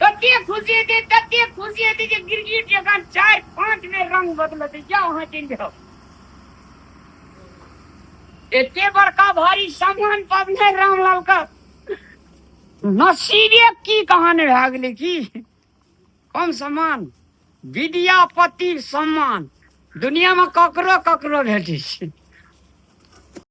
कते खुशी हेतै कते खुशी हेतै जे गिरगिट जकाँ चारि पाँच बेर रंग बदलतै जा अहाँ चलि जाउ एते बड़का भारी सामान पबने रामलाल का नसीबे की कहान भए गेलै की कम सम्मान विद्यापति सम्मान दुनियामे ककरो ककरो भेटै छै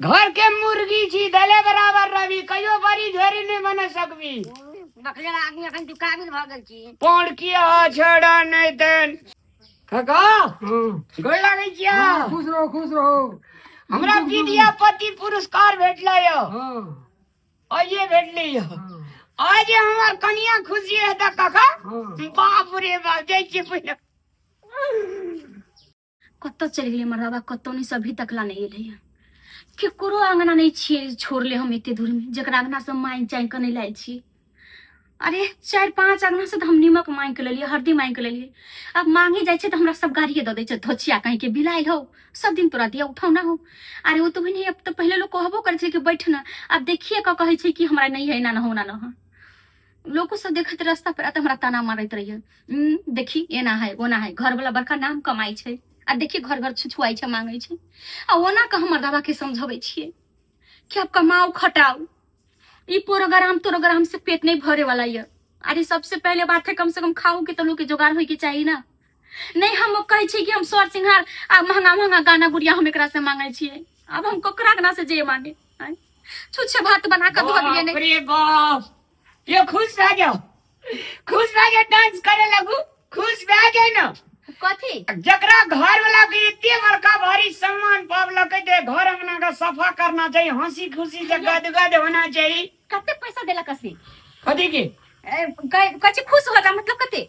घर के मुर्गी छी दले बराबर रवि कहियो बड़ी झोरी नहीं बन सकबी बकलेर आदमी अखन तू काबिल भऽ गेल छी पौड़ की आ छड़ा नहीं तन काका गोड़ लागै छिया खुश रहो खुश रहो हमरा विद्यापति पुरस्कार भेटलै यो हाँ आइए भेटलै यो आज हमर कनिया खुशी हेता काका हाँ बाप रे बाप जय छी पहिने कतऽ चलि गेलै मर्दाबा कतौ नहि से अभी तक ला नहि एलैए केकरो अङ्गना नहि छियै छोड़ले हम एते दूरमे जकरा अङ्गनासँ माँगि चाँगि कऽ नहि लायल छी अरे चारि पाँच अङ्गनासँ तऽ हम नीमक माँगि कऽ लेलियै हरदी माँगि कऽ लेलियै आब माँगे जाइ छै तऽ हमरा सब गाड़िए दऽ दै छै धोछिया कहींके बिलायल हो सब दिन तोरा दिया उठौना हो अरे ओ तऽ बहिनी अब तऽ पहिले लोक कहबो करै छलै कि बैठ ने आब देखिए कऽ कहै छै कि हमरा नहि है एना न हो ओना न हो लोको सब देखत रास्ता पर आ तऽ हमरा ताना मारैत रहियै उम, देखी एना है ओना है घर वाला बड़का नाम कमाई छै आ देखी घर घर छुछुआई छै मांगै छै आ ओना के हमर दादा के समझबै छियै कि आप कमाओ खटाओ ई प्रोग्राम तोरोग्राम से पेट नहीं भरे वाला ये अरे सबसे पहले बात है कम से कम खाओ के तो लोग के जोगाड़ होय के चाहिए ना नहीं हम कहे छी कि हम सर सिंहार आ महंगा महंगा गाना गुड़िया हम एकरा से मांगे छी अब हम ककरा गना से जे मांगे आँय? छुच्छे भात बना कर धो दिए नहीं अरे बाप ये खुश रह जाओ खुश रह जाओ डांस करे लगू खुश रह जाए ना कथी जकरा घर वाला के इतने बड़का भारी सम्मान पावलक है जे घर अंगना का सफा करना चाहिए हंसी खुशी से गदगद होना चाहिए कते पैसा देलक असी कथी के ए, कहे- कहे छी खुश हो जा मतलब कते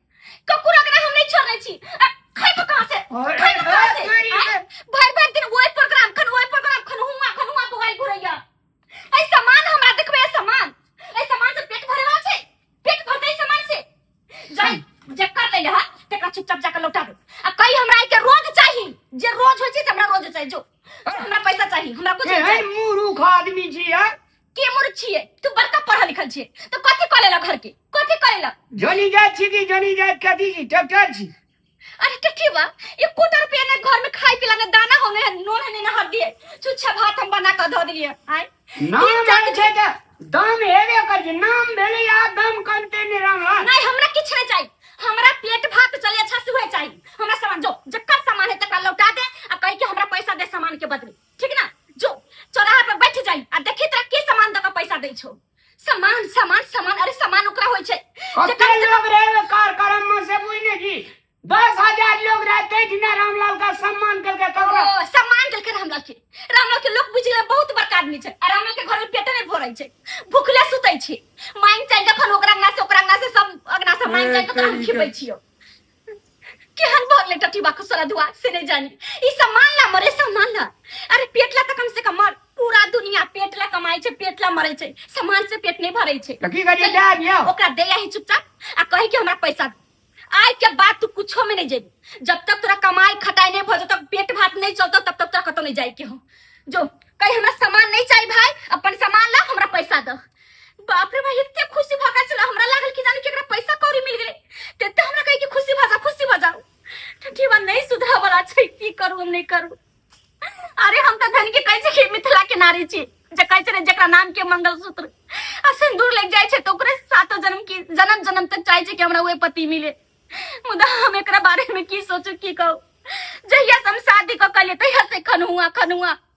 ककुर अगरा हम नहीं छोड़ने छी आ, खाई तो कहां से अरे खाई तो कहां से तेरी आय, भर भर दिन वही प्रोग्राम खन वही प्रोग्राम खन हुआ खन हुआ तो गाय घुरैया ऐ सामान हमरा देखबे ऐ सामान ऐ सामान से पेट भरे वाला छै पेट भरते ऐ सामान से जाय जे कर ले हा तेकरा चुपचाप जाके लौटा दे आ कई हमरा आइ के रोज चाही जे रोज होय छै त हमरा रोज चाही जो हमरा पैसा चाही हमरा कुछ ए, नहीं है चाही मूर्ख आदमी छी यार के मूर्ख छिए तू बड़का पढ़ल लिखल छिए तो कथी करे ला घर के कथी करे ला जनी जात छी कि जनी जात कथी छी ट्रैक्टर छी अरे टट्टी बा ये कोटा रुपया ने घर में खाई पिला ने दाना होने है नून है ना हल्दी है छुच्छा भात हम बना कर धो दिलिए आय नाम तीन चार जात छै त दाम हेबे कर छी नाम भेले या दाम कमते ने रहला नहीं हमरा किछ नहीं चाहिए हमरा पेट भात चले अच्छा से हुए चाहिए हमरा सामान जो जकर सामान है तकरा लौटा दे आ कह के हमरा पैसा दे सामान के बदले ठीक ना जो चौराहा पर बैठ जाई आ देखी तोरा के सामान दे के पैसा दै छौ सामान सामान सामान अरे सामान ओकरा होइ छै जे कते कम से लोग रहे कार्यक्रम में से बुझ नहीं जी दस हजार लोग रहे तै ठिना रामलाल का सम्मान करके कम ककरा ओ, सम्मान देलकै रामलाल के रामलाल के लोग बुझले बहुत बड़का आदमी छै आ रामलाल के घर में पेटे नहीं भरै छै भूखले सुतै छै मांग चल जखन ओकरा अंगना से ओकरा अंगना से सब अंगना से मांग चल के तोरा हम खिबै छियो केहन भगले टटी बाकू सारा दुआ से नहीं जानी ई सम्मान ला मरे सम्मान ला अरे पेट ला त कम से कम मर पूरा दुनिया पेट ला कमाई छै पेट ला मरे छै सम्मान से पेट नहीं भरे छै तो की करिए जा दियो ओकरा दे ही चुपचाप आ कही कि हमरा पैसा दे। आय के बाद तू कुछो में नहीं जेबी जब तक तोरा कमाई खटाई नहीं भजो तब पेट भात नहीं चलतो तब तक तोरा कतो नहीं जाए के हो जो कहीं हमरा सामान नहीं चाहिए भाई अपन सामान ला हमरा पैसा दो बाप रे भाई इतने खुशी भगा चला हमरा लागल कि जाने केकरा पैसा कौड़ी मिल गेले तेते हमरा कहे कि खुशी भजा खुशी भजा ठठी बा नहीं सुधरा वाला छै की करू हम नहीं करू अरे हम त धन के कहै छै कि मिथिला के नारी छी जे कहै छै ने जेकरा नाम के मंगलसूत्र आ सिंदूर लग जाय छै त ओकरे सातो जन्म की जन्म जन्म तक चाहै छै कि हमरा ओए पति मिले मुदा हम एकरा बारे में की सोचू की कहू जहिया से हम शादी क कलिए तहिया से खनुआ खनुआ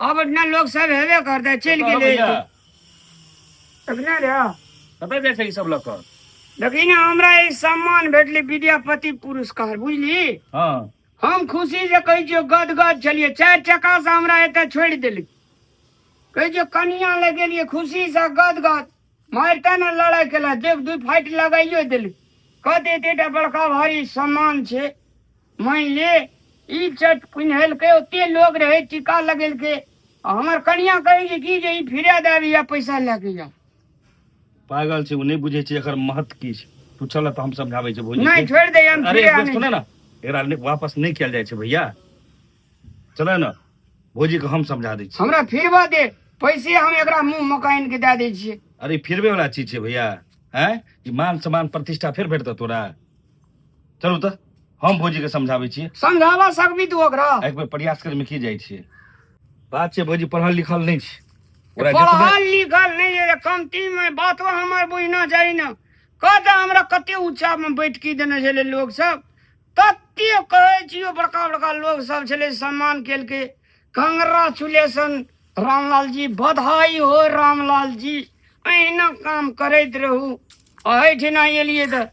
अब अपना लोग सब हेबे करते चल कहो गेले भैया अपना रे कतऽ जाइ छै ई सब लऽ कऽ देखी ना हमरा ई सम्मान भेटले विद्यापति पुरस्कार बुझली हँ हम खुशी से कहै छियो गद गद छलिए चारि चक्का से हमरा एतऽ छोड़ि देली कहै छियो कनिया लगेलिए खुशी से गद गद मारिते ने लड़ाइ केलक देख दू फाटि लगाइयो देलक कहते एतेटा बड़का भारी सम्मान छै मानि ले ई चट पिन्हेलकै ओते लोग रहै टीका लगेलकै आ हमर कनिया कहै छै कि जे ई फिरा दए अबैया पैसा लए कऽ या पागल छै ओ नहि बुझै छै एकर महत्व की छै तू चल तऽ हम समझाबै छै भौजी नहि के। छोड़ि दे हम अरे फिरा एक बेर नहि सुने ना एकरा ले- वापस नहीं किया जाए छै भैया चले ना भौजी के हम समझा दै छी हमरा फिरवा दे पैसे हम एकरा मुंह मकाइन के दे दै छियै अरे फिरबे वाला चीज छै भैया हैं ई मान सम्मान प्रतिष्ठा फिर भेटतौ तोरा चलू तऽ हम भौजी के समझाबै छियै समझावा सकबी तू ओकरा एक बेर प्रयास करमे की जाइ छियै बात छै भौजी पढ़ल लिखल नहि छै ओकरा जतबे पढ़ल लिखल नहीं है कमती में बातो हमर बुझना चाहिए ना कहता हमरा कते ऊंचा में बैठकी देने छले लोग सब कते कहै छियो बड़का बड़का लोग सब छले सम्मान केलके कांग्रेचुलेशन रामलाल जी बधाई हो रामलाल जी अहिना काम करैत रहू अहिठिना एलियै तऽ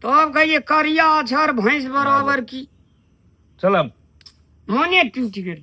तब कहिए करिया अक्षर भैंस बराबर की चलब मोने टूटि गेल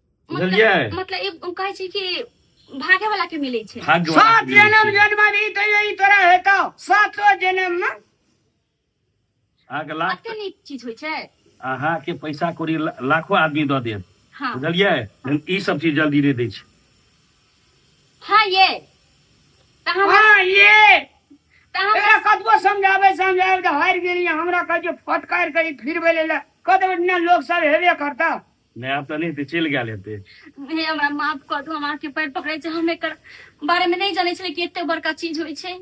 बुझलियै मतलब मतलब ई ओ कहै छै कि भागे वाला के मिलै छै भाग्य वाला सात के मिलै जन्म छै। जन्म भी तो यही तोरा हेतो सातो जन्म में अहाँके लाख कते नीक चीज होइ छै अहाँके पैसा कौड़ी ला- लाखो आदमी दऽ देत हाँ बुझलियै लेकिन ई सब चीज जल्दी नहि दै छै हाँ ये तऽ हम हाँ ये तऽ हम एकरा कतबो समझाबे समझाबे तऽ हारि गेलियै हमरा कहै छै फटकार करी फिरबै ले कतबो दिना लोक सब हेबे करता नया तऽ नहि हेतै चलि गेल हेतै हे हमरा माफ कऽ दू हम अहाँके पैर पकड़ै छी हम एकर बारे में नहीं जाने छलियै कि एते बड़का चीज होइ छै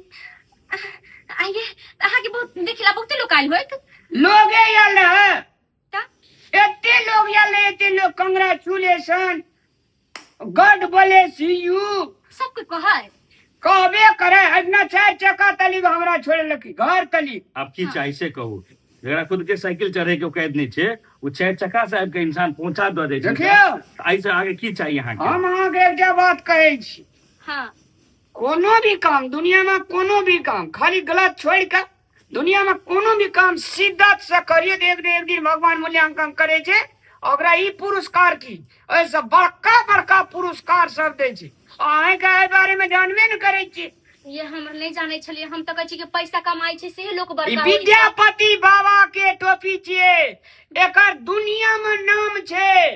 आइए अहाँके बहुत देखिला बहुते लोग आयल होत लोगे आयल रहे एते लोग आयल रहे एते लोग कंग्रेचुलेशन गॉड ब्लेस यू सब कोई कहा है कहबे करे हजना चार चक्का तली हमरा छोड़े लकी घर तली अब की हाँ। चाही से कहू जरा खुद के साइकिल चढ़े के कैद नहीं छे वो चार चक्का से आबि के इंसान पहुंचा दे दे देखियो आई से आगे की चाहिए यहाँ के हम अहाँ के एकटा बात कहै छी हाँ कोनो भी काम दुनिया में कोनो भी काम खाली गलत छोड़ के दुनिया में कोनो भी काम शिद्दत से करिए तो एक दिन एक दिन भगवान मूल्यांकन करे छे ओकरा ई पुरस्कार की ऐसे बड़का बड़का पुरस्कार सब दे छे अहे के एहि बारे में जानबे न करे छे ये हम नहीं जाने छलिए हम तो कहे कि पैसा कमाई छे से लोग बड़का विद्यापति बाबा के टोपी छे एकर दुनिया में नाम छे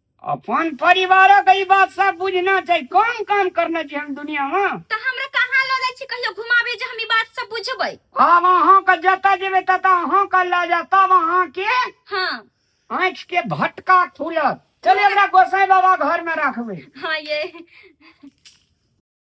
अपन परिवारक ई बात सब बुझना चाहिए कौन काम करना चाहिए हम दुनिया में तो हमरा कहाँ लो जाए छी कहियो घुमाबे जे हम ई बात सब बुझबै आब अहाँ के जतऽ जेबै ततऽ अहाँ के लऽ जा तब अहाँ के हाँ आँखि के भटका खुलत चले एकरा गोसाई बाबा घर में रखबै हाँ ये